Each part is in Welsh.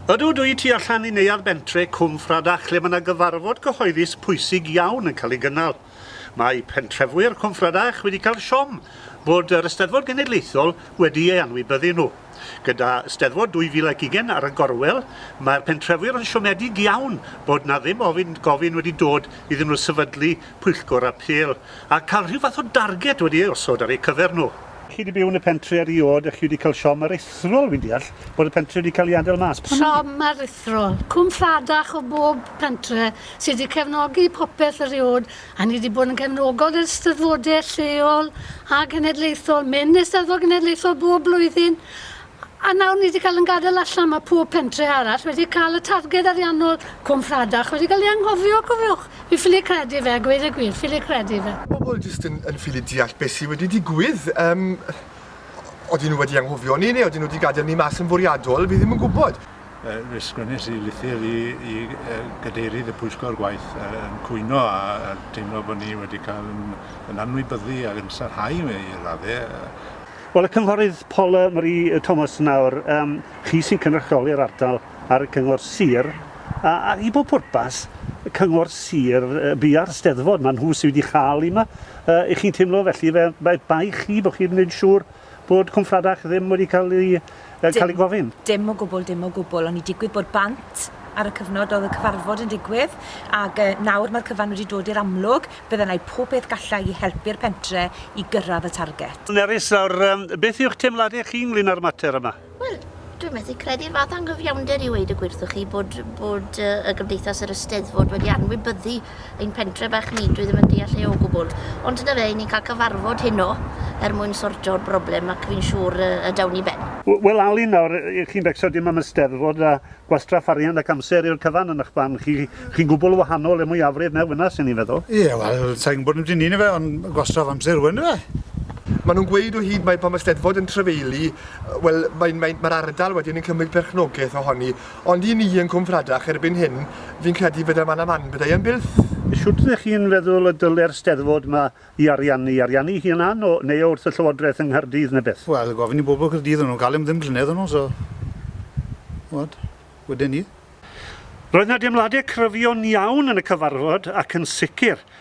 Ydw, dwi tu allan i Neuadd Bentre, Cwmffradach, lle mae yna gyfarfod cyhoeddus pwysig iawn yn cael ei gynnal. Mae pentrefu'r Cwmffrydach wedi cael siom bod yr Eisteddfod Genedlaethol wedi ei anwybyddu nhw. Gyda Eisteddfod 2020 ar y gorwel, mae'r pentrefu'r yn siomedig iawn bod 'na ddim ofyn gofyn wedi dod iddyn nhw sefydlu pwyllgor apêl a cael rhyw fath o darged wedi ei osod ar eu cyfer nhw. Chi wedi byw yn y pentri eriod a chi wedi cael siom aruthrol, fi'n deall, bod y pentri wedi cael ei adael mas. Pam? Siom aruthrol. Cwm Lladach o bob pentre sy wedi cefnogi popeth eriod a ni wedi bod yn gefnogol yr Eisteddfodau lleol a genedlaethol, mynd i'r Steddfod Genedlaethol bob blwyddyn A nawr ni 'di cael yn gadael allan, mae pob pentre arall wedi cael y targed ariannol Cwm Rhadach wedi cael ei anghofio, cofiwch. Fi ffili credu fe, a gweud y gwir, ffili credu fe. Pobl jyst yn, yn ffili deall beth sydd wedi digwydd. Yym, odyn nhw wedi anghofio ni, neu odyn nhw wedi gadael ni mas yn fwriadol, fi ddim yn gwybod. Fe sgwennes i lythyr i, i gadeirydd y pwyllgor gwaith yn cwyno a, a teimlo bod ni wedi cael yn, yn anwybyddu ac yn sarhau i raddau. Wel, y Cynghorydd Paula Marie Thomas nawr, um, chi sy'n cynrychioli'r ardal ar y Cyngor Sir, a, a i bob pwrpas, y Cyngor Sir, uh, bu ar steddfod, mae nhw sydd wedi chael i yma. Uh, I chi'n teimlo felly, fe, mae bai chi bod chi'n gwneud siŵr bod Cwmffradach ddim wedi cael ei Dim, cael ei gofyn? Dim o gwbl, dim o gwbl. O'n i digwydd bod bant ar y cyfnod oedd y cyfarfod yn digwydd, ac uh, nawr mae'r cyfan wedi dod i'r amlwg, byddai yna pob peth gallai i helpu'r pentre i gyrraedd y target. Nerys, nawr, um, beth yw'ch teimladau chi ynglyn â'r mater yma? Wel, dwi'n methu credu'r fath anghyfiawnder i weid y gwirthwch chi bod, bod uh, y Gymdeithas yr Ysteddfod wedi anwybyddu ein pentre bach ni, dwi ddim yn deall e o gwbl. Ond na fe, i ni'n cael cyfarfod heno er mwyn sortio'r broblem ac fi'n siŵr y dawn i ben. Wel Alun, nawr, chi'n becso dim am Eisteddfod a gwastraff arian ac amser i'r cyfan yn ych barn chi, chi'n gwbl wahanol i'r mwyafrif mewn fynna, sy'n i'n feddwl. Ie, wel, sa i'n gwbod ambyti 'ny, yndyfe, ond gwastraff amser yw e, yndyfe? Maen nhw'n gweud o hyd mai pan mae Steddfod yn trafeilu, wel, mae'r ardal wedyn yn cymryd perchnogaeth ohoni, Ond i ni yn Cwm Fradach erbyn hyn, fi'n credu fydda man a man byddai yn bylth. Shwt ydych chi'n feddwl y dylai'r Steddfod 'ma i ariannu? Ariannu ei hunan o, neu o wrth y Llywodraeth yng Nghaerdydd ne' beth? Wel, gofyn i bobl Caerdydd o'n nhw'n cael e am ddim llynedd o'n nhw, so, ch'mod, wedyn 'ny. Roedd 'na deimladau cryfion iawn yn y cyfarfod ac yn sicr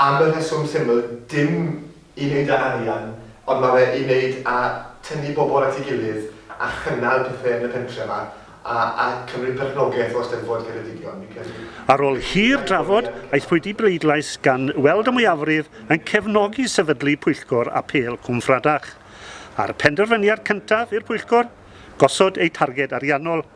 Am y rheswm syml, dim i wneud â arian, ond mae fe i wneud â tynnu bobl at ei gilydd a chynnal pethe yn y pentre 'ma, a a cymryd perchnogaeth o Eisteddfod Ceredigion, fi'n credu. Ar ôl hir drafod, aethpwyd i bleidlais gan weld y mwyafrif yn cefnogi sefydlu pwyllgor apêl Cwm Fradach, a'r penderfyniad cyntaf i'r pwyllgor, gosod eu targed ariannol.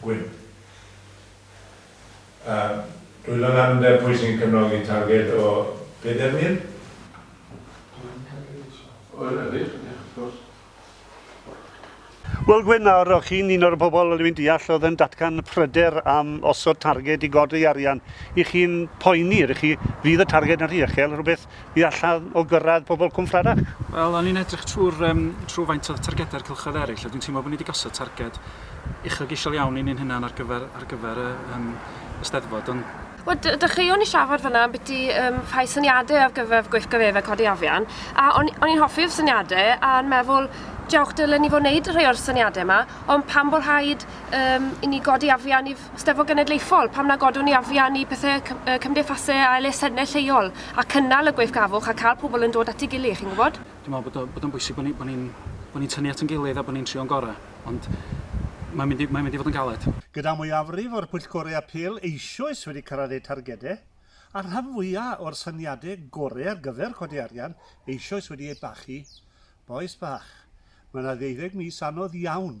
Gwyn. Yym, dwi ddim yn amlder pwy sy'n cefnogi targed o bedair mil? Gwyn Carriage. O, na, wych, ie, wrth gwrs. Wel, Gwyn, nawr, o'ch chi'n un o'r pobl, dwi'n deall, oedd yn datgan pryder am osod targed i godi arian. Y'ch chi'n poeni, ydych chi, fydd y targed yn rhy uchel, rhywbeth i allan o gyrraedd pobl cwmffrerach? Wel, o'n i'n edrych trwy'r um, trwy faint o targedau'r cylchoedd eraill, a dwi'n teimlo bod ni wedi gosod targed uchelgeisiol iawn i ni'n hynna'n ar gyfer, ar gyfer y, um, y steddfod, ond Wel, dechreuwn i siafod fyna am byti um, rhai syniadau ar gyfer gweithgareddau codi afian, a o'n, on i'n hoffi'r syniadau a'n meddwl, diolch dylen ni fod wneud rhai o'r syniadau yma, ond pan bod rhaid um, i ni godi afian i Steddfod Genedlaethol, pam na godwn ni afian i pethau cymdeithasau a elusennau lleol, a cynnal y gweithgafwch a cael pobl yn dod at ei gilydd, chi'n gwybod? Dwi'n meddwl bod, bod o'n bwysig bod ni'n ni, bod ni tynnu at yn gilydd a bod ni'n trio'n gorau, ond mae'n mynd, i, mae'n mynd i fod yn galed. Gyda mwyafrif o'r pwyllgorau apêl eisoes wedi cyrraedd eu targedau, a'r rhan fwyaf o'r syniadau gorau ar gyfer codi arian eisoes wedi eu bachu, bois bach, mae yna ddeuddeg mis anodd iawn.